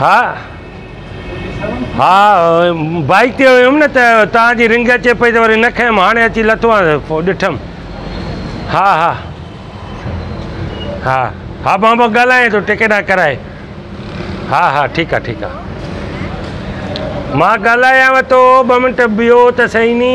ها ها بائيڪ تي هيم نه ته تان جي رنگ اچي پئي ته وري نه کنيم هاڻي اچي لٿو آهي پوء ڏٺم ها ها ها ها مان به ڳالهايان ٿو ٽڪيٽ آ ڪرائي ها ها ٺيڪ آ ٺيڪ آ مان ڳالهايان ٿو ٻه منٽ بيهو ته سهي ني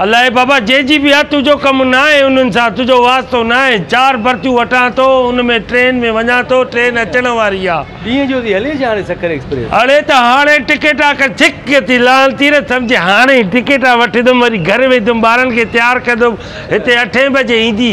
الاء بابا جنهن جي به آ، تنهنجو ڪم ناهي انهن سان، تنهنجو واسطو ناهي. چار برٿيون وٺان ٿو، ان ۾ ٽرين ۾ وڃان ٿو، ٽرين اچڻ واري آ. اڙي ته هاڻي ٽڪيٽا ڪر، ڇڪ ٿي لهن ٿي نه، سمجهي هاڻي ئي ٽڪيٽا وٺندم، وري گهر ويندم، ٻارن کي تيار ڪندم، هتي اٺين بجي ايندي.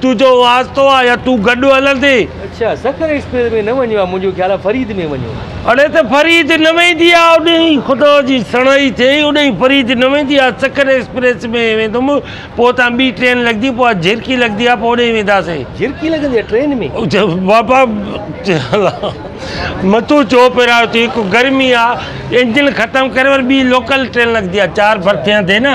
تنهنجو واسطو آ يا تون گڏ هلندين. اڇا سکر ايڪسپريس ۾ نه وڃو آ منهنجو خيال آ فريد ۾ وڃو آ. اڙي ته فريد نه ويندي آ اوڏهين خدا جي سڻائي ٿئي اوڏهين فريد نه ويندي آ سکر ايڪسپريس ۾ ويندم پوء اتان ٻي ٽرين لڳندي پوء آ جهرڪي لڳندي آ پوء اوڏهين وينداسين. جهرڪي لڳندي آ ٽرين ۾؟ بابا مٿو ڇو ڦيرايو ٿي هڪ گرمي آ انجن ختم ڪري وري ٻي لوڪل ٽرين لڳندي آ چار برٿيان تي نه.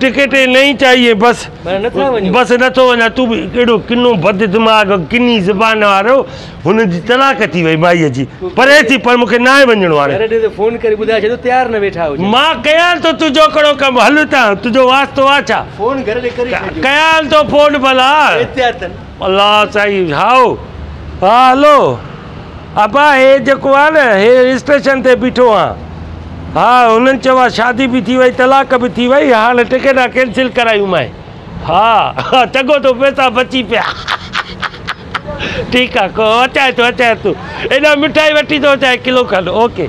ٽڪيٽ نهين چاهيي بس بس نٿو وڃان تون به ڪهڙو ڪنو بد دماغ ڪني زبان وارو هن جي طلاق ٿي وئي مائي جي پري ٿي پر مونکي ناهي وڃڻو هاڻي مان ڪيان ٿو تنهنجو ڪهڙو ڪم هل هتان تنهنجو واسطو آ ڇا ڪيان ٿو فون ڀلا الله سائين هائو ها هلو. ابا هي جيڪو آ نه هي اسٽيشن تي بيٺو آ ها هنن چيو آ شادي به ٿي وئي طلاق به ٿي وئي هاڻ ٽڪيٽا ڪينسل ڪرايون مانء ها چڱو ٿيو پيسا بچي پيا ٺيڪ آ ڪو اچائي ٿو اچائي ٿو هيڏان مٺائي وٺي ٿو اچائي ڪلو کن اوڪي.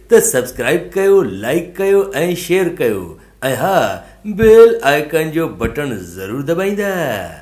ته سبسڪرائب ڪيو لائيڪ ڪيو ۽ شيئر ڪيو ۽ ها بيل آئيڪان جو بٽڻ ضرور دٻائيندا.